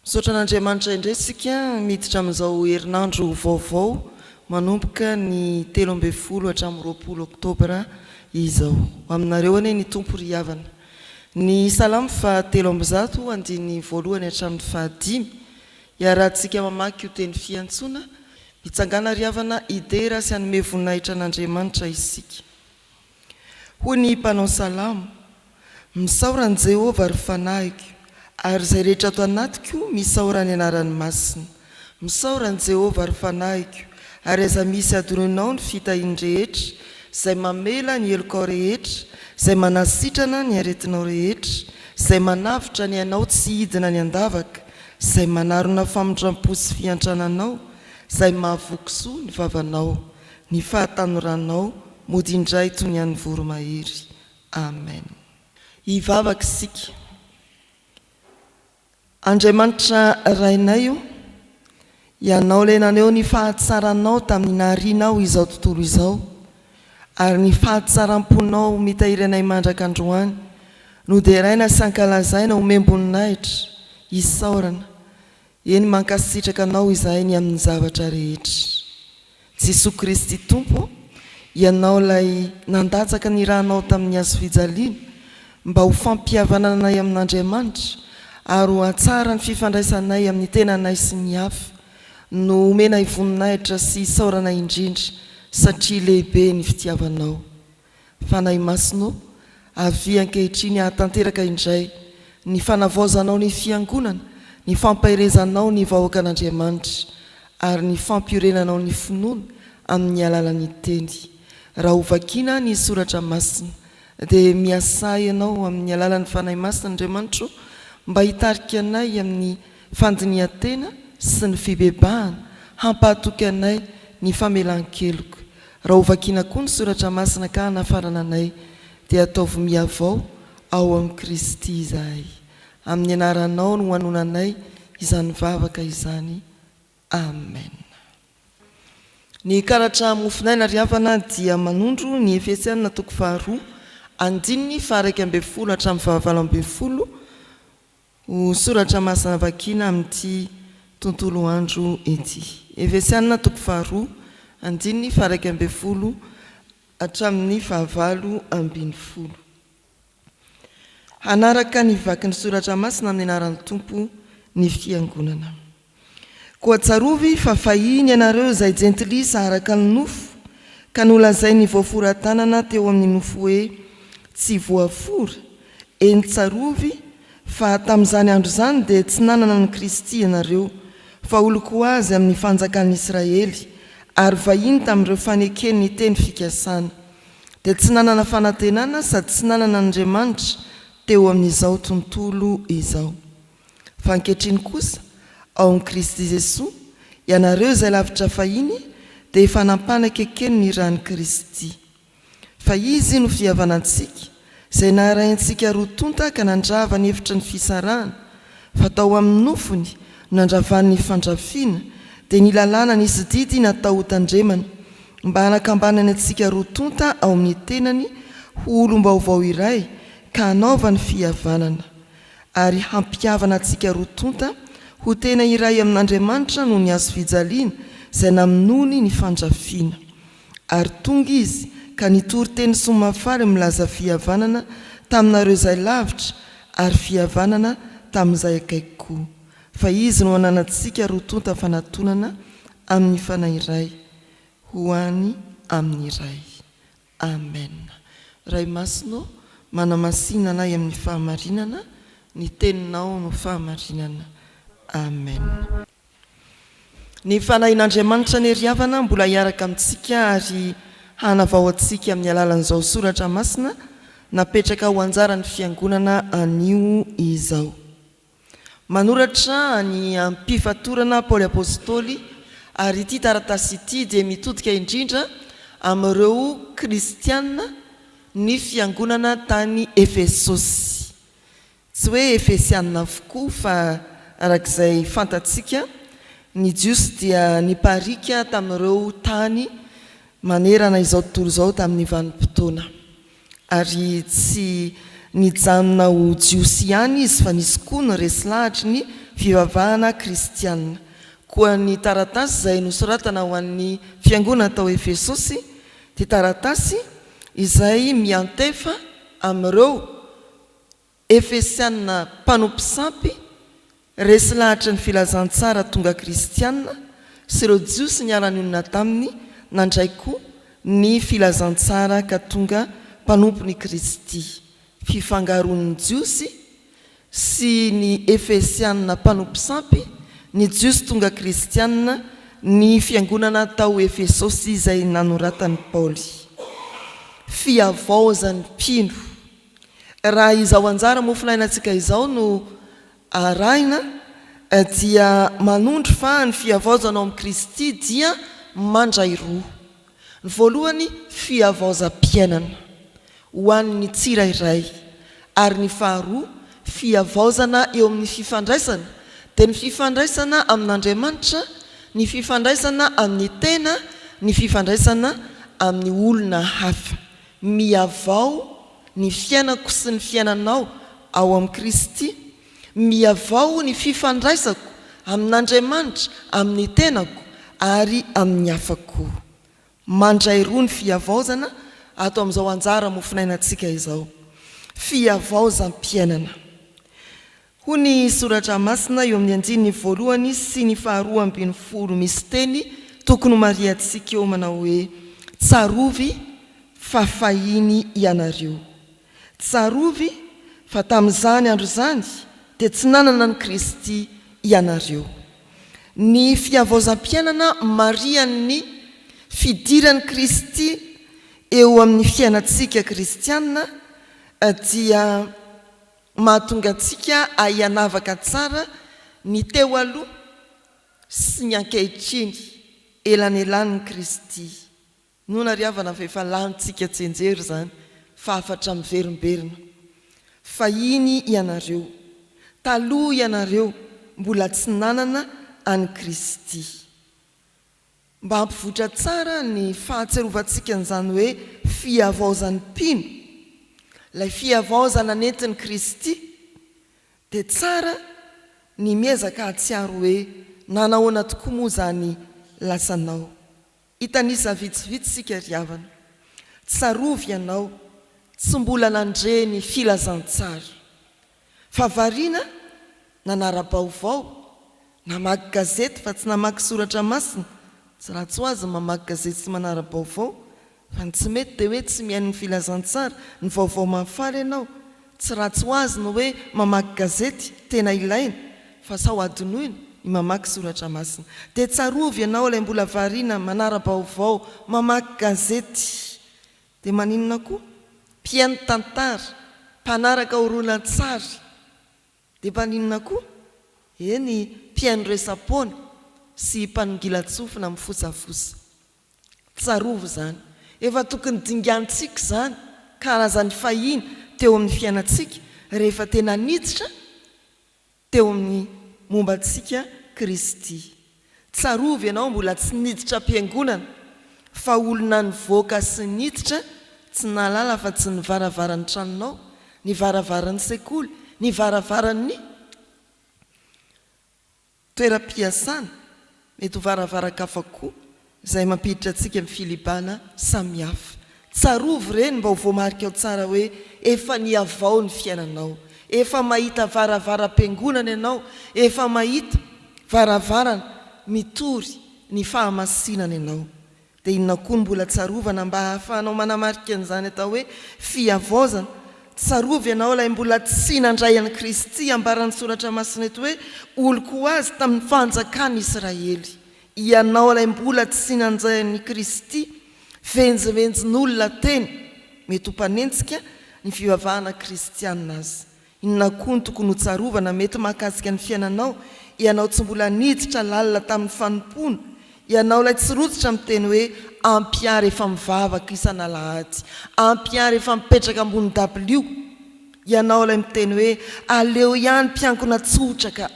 Misaotra an'Andriamanitra indray isika miditra amin'izao herinandro vaovao manomboka ny telo ambin'ny folo hatramin'ny roapolo oktobra izao. Ho aminareo anie ny Tompo ry havana. Ny Salamo faha telo amby zato andininy voalohany hatramin'ny faha dimy, iarahantsika mamaky io teny fiantsoana, Hitsangana ry havana hidera sy hanome voninahitra an'Andriamanitra isika. Hoy ny mpanao salamo, Misaora an'i Jehovah, ry fanahiko, ary izay rehetra ato anatiko, misaora ny anarany masina. Misaora an'i Jehovah, ry fanahiko, ary aiza misy adorenao ny fitahiany rehetra, izay mamela ny helokao rehetra, izay manasitrana ny aretinao rehetra, izay manavotra ny ainao tsy hidina ny an-davaka, Izay manarona famindrampo sy fiantrananao, izay mahavoky soa ny vavanao, ny fahatanoranao mody indray toy ny an'ny voromahery. Amen. Hivavaka isika. Andriamanitra Rainay ô, Ianao ilay naneho ny fahatsaranao tamin'ny naharianao izao tontolo izao, ary ny fahatsaram-ponao mitahiry anay mandraka androany, noderaina sy ankalazaina, omem-boninahitra, isaorana. Eny, mankasitraka Anao izahay ny amin'ny zavatra rehetra. Jesoa Kristy Tompo ô, Ianao ilay nandatsaka ny ranao tamin'ny hazo fijaliana mba ho fampihavanananay amin'Andriamanitra ary ho hatsara ny fifandraisanay amin'ny tenanay sy ny hafa no omenay voninahitra sy isaorana indrindra satria lehibe ny fitiavanao. Fanahy Masina ô, avia ankehitriny hahatanteraka indray ny fanavaozanao ny Fiangonana, ny fampaherezanao ny vahoakan'Andriamanitra, ary ny fampiorenanao ny finoana amin'ny alalan'ny Teny. Raha hovakiana ny Soratra Masina, dia miasà Ianao amin'ny alalan'ny Fanahy Masina, Andriamanitra ô, mba hitarika anay amin'ny fandinihan-tena sy ny fibebahana, hampahatoky anay ny famelan-keloka. Raha ho vakiana koa ny soratra masina ka hanafarana anay dia ataovy mihavao ao amin'i Kristy izahay. Amin'ny anaranao no anonanay izany vavaka izany. Amen. Ny karatra Mofonaina ry havana dia manondro ny Efesiana toko faharoa andininy faha-iraika ambin'ny folo hatramin'ny fahavalo ambin'ny folo, Ho soratra masina vakiana amin'ity tontolo andro ity. Efesiana toko faharoa, andininy faha-iraika ambin'ny folo hatramin'ny fahavalo ambin'ny folo. Hanaraka ny vaky ny soratra masina amin'ny anaran'ny Tompo ny fiangonana. Koa tsarovy fa fahiny ianareo izay jentilisa araka ny nofo, ka nolazain'ny voafora-tanana teo amin'ny nofo hoe, Tsy voafora, eny tsarovy fa tamin'izany andro izany dia tsy nanana an'i Kristy ianareo, fa oloko Azy amin'ny fanjakan'Israely, ary vahiny tamin'ireo faneken'ny teny fikasana. Dia tsy nanana fanantenana sady tsy nanana an'Andriamanitra teo amin'izao tontolo izao. Fa ankehitriny kosa, ao amin'i Kristy Jesoa, ianareo izay lavitra fahiny dia efa nampanaka ekeny ny ran'i Kristy. Fa Izy no fihavanantsika, izay naharahintsika roa tonta ka nandrava ny efitry ny fisarahana, fa tao amin'ny nofony no nandravany ny fandrafiana, dia ny lalàna nisy didy natao ho tandremana, mba hanakambanany antsika roa tonta ao amin'ny tenany ho olom-baovao iray ka hanaovany fihavanana. ary hampihavana antsika roa tonta ho tena iray amin'Andriamanitra noho ny hazofijaliana izay namonoany ny fandrafiana. Ary tonga Izy ka nitory teny soamahafaly milaza fihavanana taminareo izay lavitra ary fihavanana tamin'izay akaiky koa, fa Izy no ananantsika roa tonta fanatonana amin'ny Fanahy iray ho any amin'ny Ray. Amen Ray masina ô manamasina anay amin'ny fahamarinana ny teninao no fahamarinana Amen. Ny fanahin'Andriamanitra anie ry havana mbola hiaraka amintsika ary hanavao antsika amin'ny alalan'izao soratra masina napetraka ho anjaran'ny fiangonana anio izao. Manoratra ny ampifatorana Paoly Apostoly, ary ity taratasy ity dia mitodika indrindra amin'ireo Kristiana ny fiangonana tany Efesosy. Tsy hoe Efesiana avokoa, fa araka izay fantatsika, ny Jiosy dia nipariaka tamin'ireo tany manerana izao tontolo izao tamin'ny vanim-potoana. Ary tsy nijanona ho Jiosy ihany izy fa nisy koa ny resy lahatry ny fivavahana kristiana. Koa ny taratasy izay nosoratana ho an'ny fiangonana tao Efesosy dia taratasy izay miantefa amin'ireo Efesiana mpanompo sampy, resy lahatry ny filazantsara tonga kristiana sy ireo Jiosy niala nionona taminy nandray koa ny filazantsara ka tonga mpanompon'i Kristy. Fifangaroan'ny Jiosy sy ny Efesiana mpanompo sampy, ny Jiosy tonga kristiana, ny fiangonana tao Efesosy izay nanoratan'i Paoly. Fihavaozan'ny mpino. Raha izao anjara mofonainantsika izao no arahina dia manondro fa ny fihavaozana ao amin'i Kristy dia mandray roa. Ny voalohany fihavaozam-piainana ho an'ny tsirairay ary ny faharoa fihavaozana eo amin'ny fifandraisana dia ny fifandraisana amin'Andriamanitra, ny fifandraisana amin'ny tena, ny fifandraisana amin'ny olona hafa. Mihavao ny fiainako sy ny fiainanao ao amin'i Kristy, mihavao ny fifandraisako amin'Andriamanitra, amin'ny tenako ary amin'ny hafa koa. Mandray roa ny fihavaozana ato amin'izao anjara mofonainantsika izao, fihavaozam-piainana. Hoy ny Soratra Masina eo amin'ny andininy voalohany sy ny faharoa ambin'ny folo misy teny tokony homarihantsika eo manao hoe, Tsarovy fa fahiny ianareo. Tsarovy fa tamin'izany andro izany dia tsy nanana an'i Kristy ianareo. Ny fihavaozam-piainana marihan'ny fidiran'i Kristy eo amin'ny fiainantsika kristiana dia. Mahatonga antsika ahay hanavaka tsara ny teo aloha sy ny ankehitriny, elanelanin'i Kristy. Noana ry havana fa efa lanintsika tsianjery izany fa hafatra miverimberina. Fahiny ianareo. Taloha ianareo mbola tsy nanana an'i Kristy. Mba hampivoitra tsara ny fahatsiarovantsika an'izany hoe fihavaozan'ny mpino, ilay fihavaozana nentin'i Kristy, dia tsara ny miezaka hahatsiaro hoe nanahoana tokoa moa izany lasanao. Hitanisa vitsivitsy isika ry havana. Tsarovy ianao tsy mbola nandre ny filazantsara. Fa variana nanara-baovao, namaky gazety fa tsy namaky soratra masina, tsy ratsy ho azy ny mamaky gazety sy manara-baovao, fa ny tsy mety dia hoe tsy mihaino ny filazantsara, ny vaovao mahafaly ianao, tsy ratsy ho azy ny hoe mamaky gazety, tena ilaina, fa sao hadinoina ny mamaky soratra masina. Dia tsarovy ianao ilay mbola variana manara-baovao, mamaky gazety. Dia maninona koa? Mpihaino tantara, mpanaraka horonantsary. Dia maninona koa? Eny, mpihaino resa-poana sy mpanongilan-tsofina mifosafosa. Tsarovy izany. Efa tokony dingantsika izany, karazan'ny fahiny teo amin'ny fiainantsika, rehefa tena niditra teo amin'ny momba antsika Kristy. Tsarovy ianao mbola tsy niditra am-piangonana fa olona nivoaka sy niditra tsy nahalala afa tsy ny varavaran'ny tranonao, ny varavaran'ny sekoly, ny varavaran'ny toeram-piasana. Mety ho varavaran-kafa koa izay mampiditra antsika amin'ny filibana samihafa. Tsarovy ireny mba ho voamarikao tsara hoe efa nihavao ny fiainanao, efa mahita varavaram-piangonana ianao, efa mahita varavarana mitory ny fahamasinana ianao. Dia inona koa no mbola tsarovana mba hahafahanao manamarika an'izany atao hoe fihavaozana? Tsarovy ianao ilay mbola tsy nandray an'i Kristy ambaran'ny Soratra Masina eto hoe oloko ho azy tamin'ny fanjakan'i Israely. Ianao ilay mbola tsy nanjay an'i Kristy, venjivenjin'olona teny, mety ho mpanenjika ny fivavahana kristiana aza. Inona koa no tokony hotsarovana mety mahakasika ny fiainanao, ianao tsy mbola niditra lalina tamin'ny fanompoana, ianao ilay tsy rototra miteny hoe ampia rehefa mivavaka isan'alahady, ampia rehefa mipetraka ambony dabilio, ianao ilay miteny hoe aleo ihany mpiankina tsotra ka.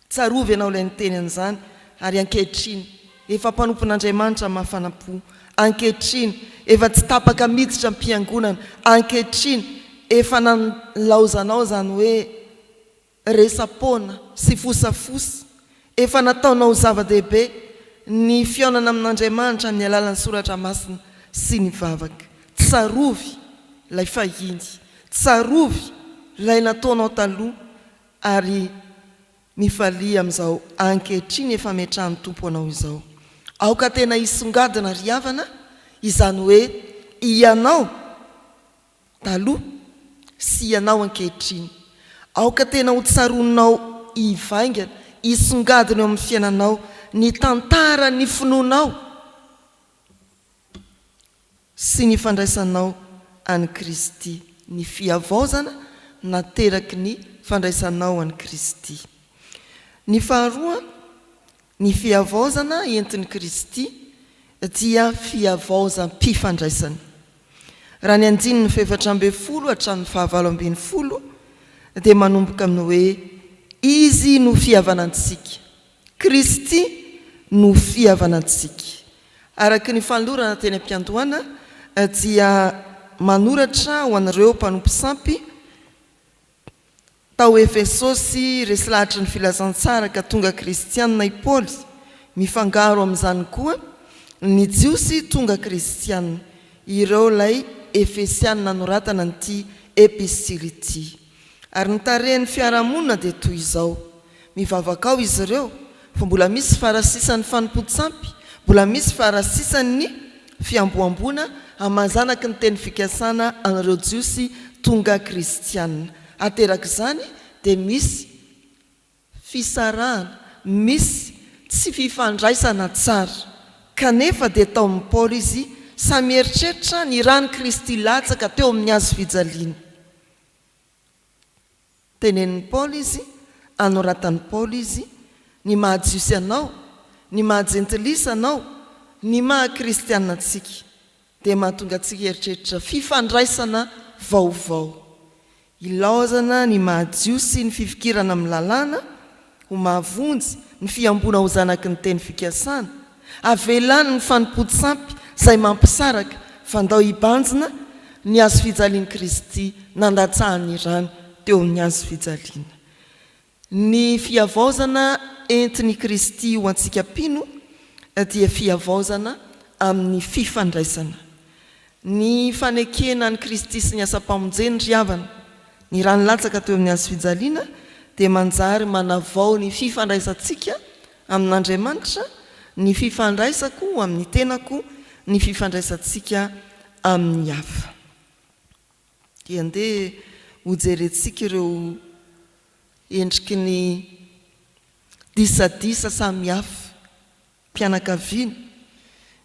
Tsarovy ianao ilay niteny an'izany, ary ankehitriny efa mpanompon'Andriamanitra mafana-po, ankehitriny efa tsy tapaka miditra am-piangonana, ankehitriny efa nanlaozanao izany hoe resa-poana sy fosafosa, efa nataonao zava-dehibe ny fihaonana amin'Andriamanitra amin'ny alalan'ny soratra masina sy ny vavaka. Tsarovy ilay fahiny, tsarovy ilay nataonao taloha, Ary mifalia amin'izao ankehitriny efa ametrahan'ny Tompo anao izao. Aoka tena hisongadina ry havana izany hoe hianao taloha sy hianao ankehitriny. Aoka tena ho tsaroanao hivaingana, hisongadina eo amin'ny fiainanao ny tantaran'ny finoanao sy ny fandraisanao an'i Kristy, ny fihavaozana nateraky ny fandraisanao an'i Kristy. Ny faharoa, ny fihavaozana entin'i Kristy dia fihavaozam-pifandraisana. Raha ny andininy fahefatra ambin'ny folo hatramin'ny fahavalo ambin'ny folo dia manomboka amin'ny hoe Izy no fihavanantsika. Kristy no fihavanantsika. Araka ny fanolorana teny am-piandohana dia manoratra ho an'ireo mpanompo sampy tao Efesosy resy lahatry ny filazantsara ka tonga kristiana i Paoly. Mifangaro amin'izany koa ny Jiosy tonga kristiana, ireo ilay Efesiana nanoratana an'ity epistily ity. Ary ny tarehin'ny fiarahamonina dia toy izao, mivavaka ao izy ireo fa mbola misy farasisan'ny fanompoan-tsampy, mbola misy farasisan'ny fihamboamboana amazanaky ny teny fikasana an'ireo Jiosy tonga kristiana. Aterak'izany dia misy. fisarahana, misy tsy fifandraisana tsara. Kanefa dia tao amin'i Paoly izy sahy mieritreritra ny ran'i Kristy latsaka teo amin'ny hazo fijaliana. Tenenin'i Paoly izy, anoratan'i Paoly izy, Ny maha Jiosy anao, ny maha Jentilisa anao, ny maha Kristiana antsika. dia mahatonga antsika hieritreritra fifandraisana vaovao. Ilaozana ny maha-Jiosy ny fifikirana amin'ny Lalàna ho mahavonjy ny fihamboana ho zanaky ny teny fikasana, avelany ny fanompoan-tsampy izay mampisaraka fa ndao hibanjina ny hazofijalian'i Kristy nandatsahan'ny rany teo amin'ny hazofijaliana. Ny fihavaozana entin' i Kristy ho antsika mpino dia fihavaozana amin' ny fifandraisana. Ny fanekena an' i Kristy sy ny asam-pamonjeny ry havana, ny ra nilatsaka teo amin' ny hazo fijaliana, dia manjary manavao ny fifandraisantsika amin' Andriamanitra, ny fifandraisako amin' ny tenako, ny fifandraisantsika amin' ny hafa. dia andeha hojerentsika ireo endriky ny disadisa samihafa, mpianakaviana,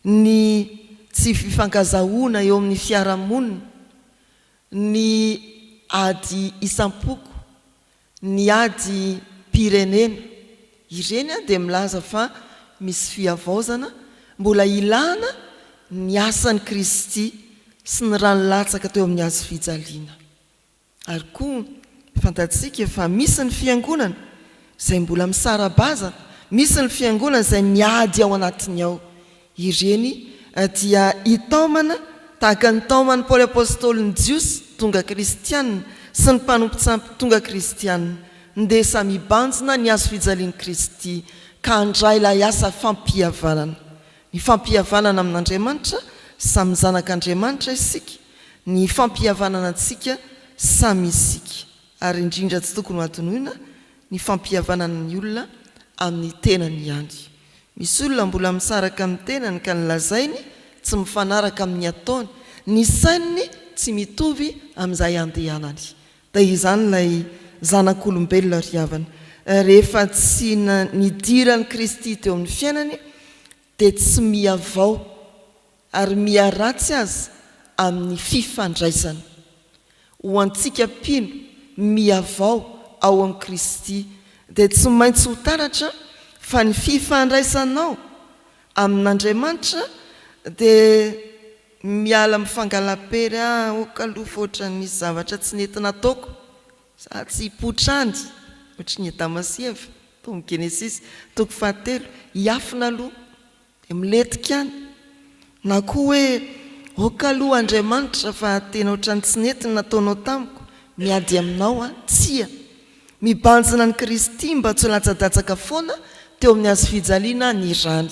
ny tsy fifankazahoana eo amin'ny fiarahamonina, ny ady isam-poko, Ny ady mpirenena. Ireny dia milaza fa misy fihavaozana mbola ilana ny asan'i Kristy sy ny rany latsaka teo amin'ny hazo fijaliana. Ary koa fantatsika fa misy ny fiangonana izay mbola misara-bazana, misy ny fiangonana izay miady ao anatiny ao. Ireny dia hitaomana tahaka ny taoman'i Paoly Apostoly ny Jiosy tonga kristiana sy ny mpanompontsampy tonga kristiana. Ndeha samy hibanjina ny hazo fijalian'i Kristy ka handray ilay asa fampihavanana. Ny fampihavanana amin'Andriamanitra sy amin'ny zanak'Andriamanitra isika, ny fampihavanana antsika samy isika, ary indrindra tsy tokony hohadinoina ny fampihavanana ny olona amin'ny tenany ihany. Misy olona mbola misaraka amin'ny tenany ka ny lazainy tsy mifanaraka amin'ny ataony, ny saininy tsy mitovy amin'izay andehanany. Dia izany ilay zanak'olombelona ry havana, rehefa tsy nidiran'i Kristy teo amin'ny fiainany dia tsy mihavao. Ary miharatsy aza amin'ny fifandraisana. Ho antsika mpino mihavao ao amin'i Kristy dia tsy maintsy ho taratra fa ny fifandraisanao amin'Andriamanitra dia miala amin'ny fangala-pery aoka aloha fa ohatra nisy zavatra tsy nety nataoko za tsy hipoitra any ohatra ny Adama sy Eva tao amin'ny Genesisy toko fahatelo hiafina aloha Dia miletika any. Na koa hoe, ok aloha Andriamanitra fa tena ohatran'ny tsy nety ny nataonao tamiko, miady aminao aho. Tsia. Mibanjina an'i Kristy mba tsy ho latsadatsaka foana teo amin'ny hazo fijaliana ny rany.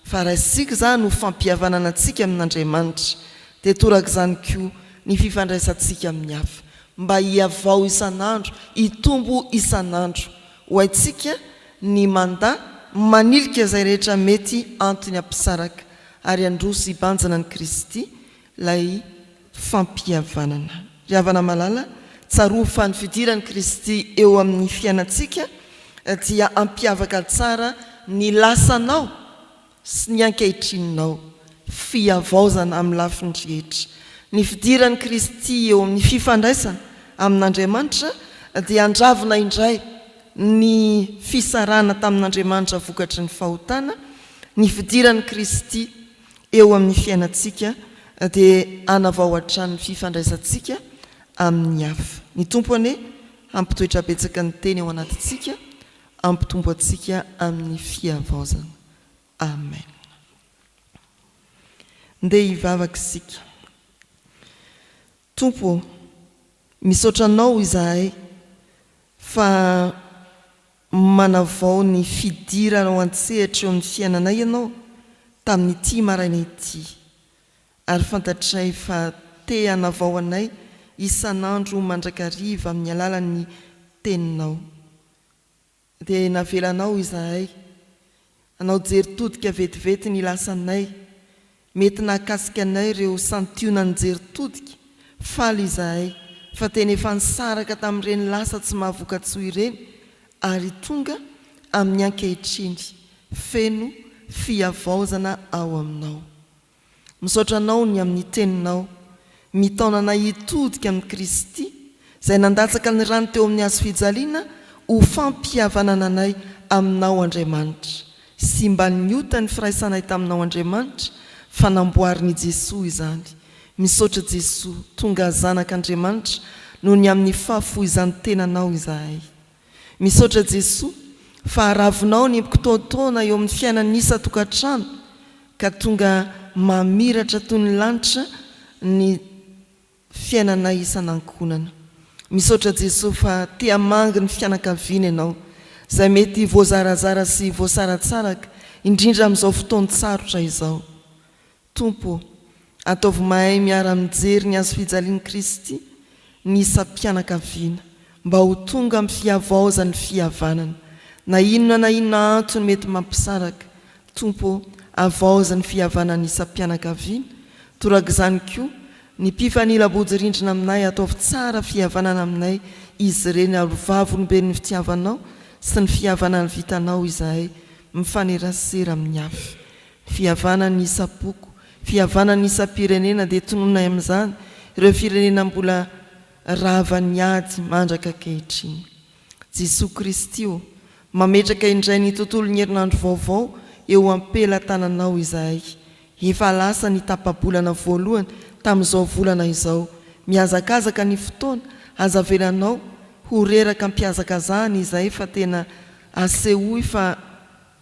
Fa raisitsika izany ho fampihavanana antsika amin'Andriamanitra. Dia torak'izany koa ny fifandraisantsika amin'ny hafa. Mba hihavao isan'andro, hitombo isan'andro. Ho haintsika ny manda, manilika izay rehetra mety antony hampisaraka ary handroso hibanjina an'i Kristy ilay fampihavanana. Ry havana malala, tsaroa fa ny fidiran'i Kristy eo amin'ny fiainantsika dia hampiavaka tsara ny lasanao sy ny ankehitrin'nao fihavaozana amin'ny lafiny rehetra. Ny fidiran'i Kristy eo amin'ny fifandraisana amin'Andriamanitra dia handravona indray ny fisarahana tamin'Andriamanitra vokatry ny fahotana, ny fidiran'i Kristy eo amin'ny fiainantsika dia hanavao hatrany ny fifandraisantsika amin'ny hafa. Ny Tompo anie hampitoetra betsaka ny Teny ao anatintsika Hampitombo antsika amin'ny fihavaozana. Amen. Ndeha hivavaka isika. Tompo ô, misaotra Anao izahay fa manavao ny fidiranao an-tsehatra eo amin'ny fiainanay Ianao tamin'ity maraina ity, ary fantatray fa te hanavao anay isan'andro mandrakariva amin'ny alalan'ny Teninao. Dia navelanao izahay hanao jery todika vetivety ny lasanay. Mety nahakasika anay ireo santionan'ny jery todika. Faly izahay fa tena efa nisaraka tamin'ireny lasa tsy mahavoka-tsoa ireny ary tonga amin'ny ankehitriny feno fihavaozana ao aminao. Misaotra Anao ny amin'ny Teninao. Mitaona anay hitodika amin'i Kristy, Izay nandatsaka ny rany teo amin'ny Hazo fijaliana ho fampihavanana anay Aminao, Andriamanitra. Simban'ny ota ny firaisanay taminao, Andriamanitra, fa namboarin'i Jesoa izany. Misaotra Jesoa, tonga Zanak'Andriamanitra noho ny amin'ny fahafoizan-tenanao izahay. Misaotra Jesoa fa aravinao ny mpktotoana eo amin'ny fiainan'ny isa tokantrano ka tonga mamiratra toy ny lanitra ny fiainanay isan'ankohonana. Misaotra Jesoa fa te hamangy ny fianakaviana Ianao izay mety voazarazara sy voasaratsaraka indrindra amin'izao fotoan-tsarotra izao. Tompo ô, ataovy mahay miara-mijery ny Hazofijalian'i Kristy ny isam-pianakaviana, mba ho tonga amin'ny fihavaozan'ny fihavanana. Na inona na inona antony mety mampisaraka, Tompo ô, havaozy ny fihavanan'ny isam-pianakaviana, torak'izany koa, ny mpifanila bodirindrina aminay, ataovy tsara fihavanana aminay izy ireny, ary ho vavolombelon'ny fitiavanao sy ny fihavanan'ny vitanao izahay, mifanerasera amin'ny hafa. Fihavanan'ny isam-poko, fihavanan'ny isam-pirenena dia tonononay amin'izany ireo firenena mbola ravan'ny ady mandraka ankehitriny. Jesoa Kristy ô, mametraka indray ny tontolon'ny herinandro vaovao eo am-pelatananao izahay. Efa lasa ny tapa-bolana voalohany tamin'izao volana izao. Mihazakazaka ny fotoana, aza avelanao ho reraka am-pihazakazahana izahay fa tena asehoy fa.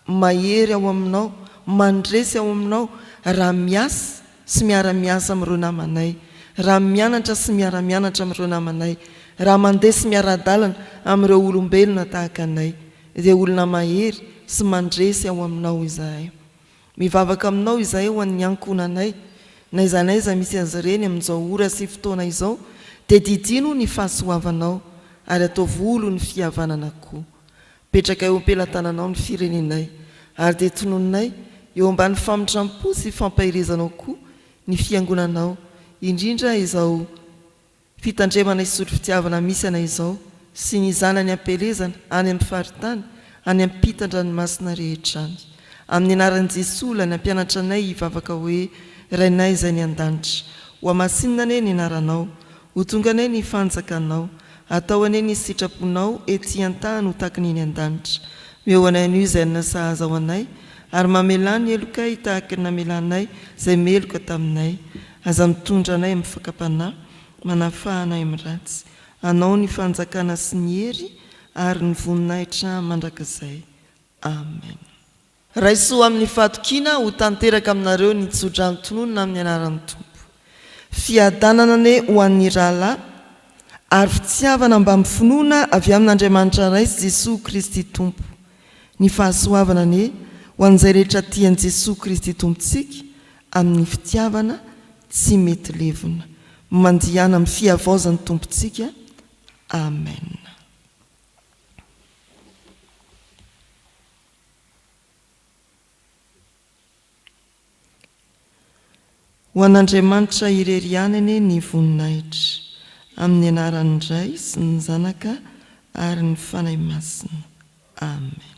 Mahery ao aminao, mandresy ao aminao raha miasa sy miara-miasa amin'ireo namanay, raha mianatra sy miara-mianatra amin'ireo namanay, raha mandeha sy miara-dalana amin'ireo olombelona tahaka anay, dia olona mahery sy mandresy ao aminao izahay. Mivavaka aminao izahay ho an'ny ankohonanay, n'aiza n'aiza misy azy ireny amin'izao ora sy fotoana izao, dia didino ny fahasoavanao ary ataovy olo ny fihavanana koa. Petraka eo am-pelatananao ny firenenay, ary dia tononinay eo ambany famindrampo sy fampaherezanao koa ny Fiangonanao, indrindra izao fitandremana hisotro fitiavana misy anay izao sy ny zanany am-pielezana any amin'ny faritany any ampitan-dranomasina rehetra any. Amin'ny anaran'i Jesoa Ilay nampianatra anay hivavaka hoe, Rainay izay any an-danitra. Hohamasinina anie ny anaranao. Ho tonga anay ny fanjakanao. Atao anie ny sitraponao ety an-tany ho takiny eny an-danitra. Omeo anay anio izay hanina sahaza ho anay, ary mamelà ny helokay tahaka ny namelanay izay meloka taminay. Aza mitondra anay amin'ny fakam-panahy, manafaha anay amin'ny ratsy. Anao ny fanjakana sy ny hery ary ny voninahitra mandrakizay. Amena. Raiso amin'ny fahatokiana ho tanteraka aminareo ny tso-drano tononina amin'ny anaran'ny Tompo. Fiadanana anie ho an'ny rahalahy ary fitiavana mbamy finoana avy amin'Andriamanitra Ray sy Jesoa Kristy Tompo. Ny fahasoavana anie ho an'izay rehetra tia an'i Jesoa Kristy Tompontsika amin'ny fitiavana tsy mety levona. Mandihana amin'ny fihavaozan'ny Tompontsika. Amen. Ho an'Andriamanitra irery ihany anie ny voninahitra, amin'ny anaran'ny Ray sy ny Zanaka ary ny Fanahy Masina. Amen.